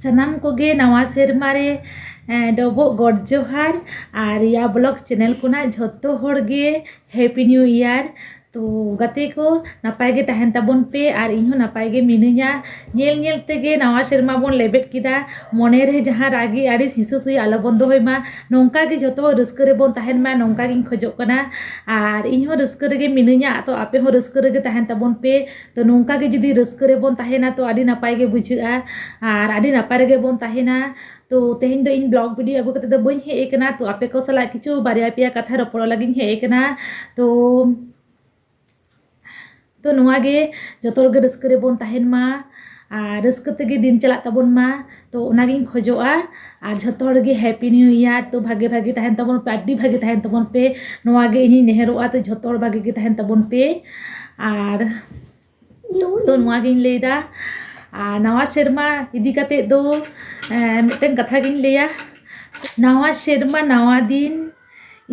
ᱥᱟᱱᱟᱢ ᱠᱚᱜᱮ ᱱᱟᱣᱟ ᱥᱮᱨᱢᱟ ᱨᱮ ᱰᱚᱵᱚᱜ ᱜᱚᱰ ᱡᱚᱦᱟᱨ ᱟᱨ ᱨᱤᱭᱟ ᱵᱞᱚᱠ ᱪᱮᱱᱮᱞ ᱠᱷᱚᱱᱟᱜ ᱡᱷᱚᱛᱚ ᱦᱚᱲ ᱜᱮ ᱦᱮᱯᱤ ᱱᱤᱭᱩ ᱤᱭᱟᱨ ᱛᱚ ᱜᱟᱛᱮ ᱠᱚ ᱱᱟᱯᱟᱭ ᱜᱮ ᱛᱟᱦᱮᱱ ᱛᱟᱵᱚᱱ ᱯᱮ ᱟᱨ ᱤᱧ ᱦᱚᱸ ᱱᱟᱯᱟᱭ ᱜᱮ ᱢᱤᱱᱟᱹᱧᱟ ᱧᱮᱞ ᱧᱮᱞ ᱛᱮᱜᱮ ᱱᱟᱣᱟ ᱥᱮᱨᱢᱟ ᱵᱚᱱ ᱞᱮᱵᱮᱫ ᱠᱮᱫᱟ ᱢᱚᱱᱮ ᱨᱮ ᱡᱟᱦᱟᱸ ᱨᱟᱹᱜᱤ ᱟᱹᱲᱤᱥ ᱦᱤᱥᱟᱹ ᱥᱩᱭᱟᱹ ᱟᱞᱚ ᱵᱚᱱ ᱫᱚᱦᱚᱭ ᱢᱟ ᱱᱚᱝᱠᱟ ᱜᱮ ᱡᱷᱚᱛᱚ ᱦᱚᱲ ᱨᱟᱹᱥᱠᱟᱹ ᱨᱮᱵᱚᱱ ᱛᱟᱦᱮᱱ ᱢᱟ ᱱᱚᱝᱠᱟ ᱜᱤᱧ ᱠᱷᱚᱡᱚᱜ ᱠᱟᱱᱟ ᱟᱨ ᱤᱧ ᱦᱚᱸ ᱨᱟᱹᱥᱠᱟᱹ ᱨᱮᱜᱮ ᱢᱤᱱᱟᱹᱧᱟ ᱟᱫᱚ ᱟᱯᱮ ᱦᱚᱸ ᱨᱟᱹᱥᱠᱟᱹ ᱨᱮᱜᱮ ᱛᱟᱦᱮᱱ ᱛᱟᱵᱚᱱ ᱯᱮ ᱛᱚ ᱱᱚᱝᱠᱟ ᱜᱮ ᱡᱩᱫᱤ ᱨᱟᱹᱥᱠᱟᱹ ᱨᱮᱵᱚᱱ ᱛᱟᱦᱮᱱᱟ ᱛᱚ ᱟᱹᱰᱤ ᱱᱟᱯᱟᱭ ᱜᱮ ᱵᱩᱡᱷᱟᱹᱜᱼᱟ ᱟᱨ ᱟᱹᱰᱤ ᱱᱟᱯᱟᱭ ᱨᱮᱜᱮ ᱵᱚᱱ ᱛᱟᱦᱮᱱᱟ ᱛᱚ ᱛᱮᱦᱮᱧ ᱫᱚ ᱤᱧ ᱵᱞᱚᱜᱽ ᱵᱷᱤᱰᱤᱭᱳ ᱟᱹᱜᱩ ᱠᱟᱛᱮᱫ ᱫᱚ ᱵᱟᱹᱧ ᱦᱮᱡ ᱟᱠᱟᱱᱟ ᱛᱚ ᱟᱯᱮ ᱠᱚ ᱥᱟᱞᱟᱜ ᱠᱤᱪᱷᱩ ᱵᱟᱨᱭᱟ ᱯᱮᱭᱟ ᱠᱟᱛᱷᱟ ᱨᱚᱯᱚᱲᱚᱜ ᱞᱟᱹᱜᱤᱫ ᱤᱧ ᱦᱮᱡ ᱟᱠᱟᱱᱟ ᱛᱚ ᱛᱚ ᱱᱚᱣᱟ ᱜᱮ ᱡᱚᱛᱚ ᱦᱚᱲ ᱜᱮ ᱨᱟᱹᱥᱠᱟᱹ ᱨᱮᱵᱚᱱ ᱛᱟᱦᱮᱱ ᱢᱟ ᱟᱨ ᱨᱟᱹᱥᱠᱟᱹ ᱛᱮᱜᱮ ᱫᱤᱱ ᱪᱟᱞᱟᱜ ᱛᱟᱵᱚᱱ ᱢᱟ ᱛᱚ ᱚᱱᱟᱜᱤᱧ ᱠᱷᱚᱡᱚᱜᱼᱟ ᱟᱨ ᱡᱷᱚᱛᱚ ᱦᱚᱲᱜᱮ ᱦᱮᱯᱤ ᱱᱤᱭᱩ ᱤᱭᱟᱨ ᱛᱚ ᱵᱷᱟᱜᱮ ᱵᱷᱟᱜᱮ ᱛᱟᱦᱮᱱ ᱛᱟᱵᱚᱱ ᱯᱮ ᱟᱹᱰᱤ ᱵᱷᱟᱜᱮ ᱛᱟᱦᱮᱱ ᱛᱟᱵᱚᱱ ᱯᱮ ᱱᱚᱣᱟᱜᱮ ᱤᱧᱤᱧ ᱱᱮᱦᱚᱨᱚᱜᱼᱟ ᱛᱚ ᱡᱷᱚᱛᱚ ᱦᱚᱲ ᱵᱷᱟᱜᱮ ᱜᱮ ᱛᱟᱦᱮᱱ ᱛᱟᱵᱚᱱ ᱯᱮ ᱟᱨ ᱛᱚ ᱱᱚᱣᱟᱜᱤᱧ ᱞᱟᱹᱭᱫᱟ ᱟᱨ ᱱᱟᱣᱟ ᱥᱮᱨᱢᱟ ᱤᱫᱤ ᱠᱟᱛᱮ ᱫᱚ ᱢᱤᱫᱴᱮᱱ ᱠᱟᱛᱷᱟ ᱜᱤᱧ ᱞᱟᱹᱭᱟ ᱱᱟᱣᱟ ᱥᱮᱨᱢᱟ ᱱᱟᱣᱟ ᱫᱤᱱ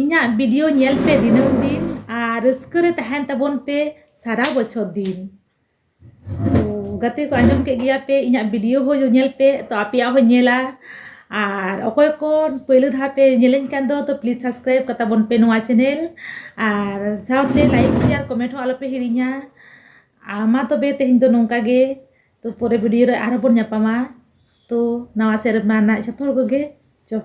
ᱤᱧᱟᱹᱜ ᱵᱷᱤᱰᱤᱭᱳ ᱧᱮᱞ ᱯᱮ ᱫᱤᱱᱟᱹᱢ ᱫᱤᱱ ᱟᱨ ᱨᱟᱹᱥᱠᱟᱹ ᱨᱮ ᱛᱟᱦᱮᱱ ᱛᱟᱵᱚᱱ ᱯᱮ ᱥᱟᱨᱟ ᱵᱚᱪᱷᱚᱨ ᱫᱤᱱ ᱜᱟᱛᱮ ᱠᱚ ᱟᱸᱡᱚᱢ ᱠᱮᱫ ᱜᱮᱭᱟ ᱯᱮ ᱤᱧᱟᱹᱜ ᱵᱷᱤᱰᱤᱭᱳ ᱦᱚᱸ ᱧᱮᱞ ᱯᱮ ᱛᱚ ᱟᱯᱮᱭᱟᱜ ᱦᱚᱸᱧ ᱧᱮᱞᱟ ᱟᱨ ᱚᱠᱚᱭ ᱠᱚ ᱯᱳᱭᱞᱳ ᱫᱷᱟᱣ ᱯᱮ ᱧᱮᱞᱤᱧ ᱠᱟᱱ ᱫᱚ ᱛᱚ ᱯᱞᱤᱡᱽ ᱥᱟᱵᱥᱠᱨᱟᱭᱤᱵᱽ ᱠᱟᱛᱟ ᱵᱚᱱ ᱯᱮ ᱱᱚᱣᱟ ᱪᱮᱱᱮᱞ ᱟᱨ ᱥᱟᱶᱛᱮ ᱞᱟᱭᱤᱠ ᱥᱮᱭᱟᱨ ᱠᱚᱢᱮᱱᱴ ᱦᱚᱸ ᱟᱞᱚᱯᱮ ᱦᱤᱲᱤᱧᱟ ᱟᱨ ᱢᱟ ᱛᱚᱵᱮ ᱛᱮᱦᱮᱧ ᱫᱚ ᱱᱚᱝᱠᱟ ᱜᱮ ᱛᱚ ᱯᱚᱨᱮ ᱵᱷᱤᱰᱤᱭᱳ ᱨᱮ ᱟᱨᱦᱚᱸ ᱵᱚᱱ ᱧᱟᱯᱟᱢᱟ ᱛᱚ ᱱᱟᱣᱟ ᱥᱮᱨᱢᱟ ᱨᱮᱱᱟᱜ ᱡᱷᱚᱛᱚ ᱦᱚᱲ ᱠᱚᱜᱮ ᱡᱚᱦᱟᱨ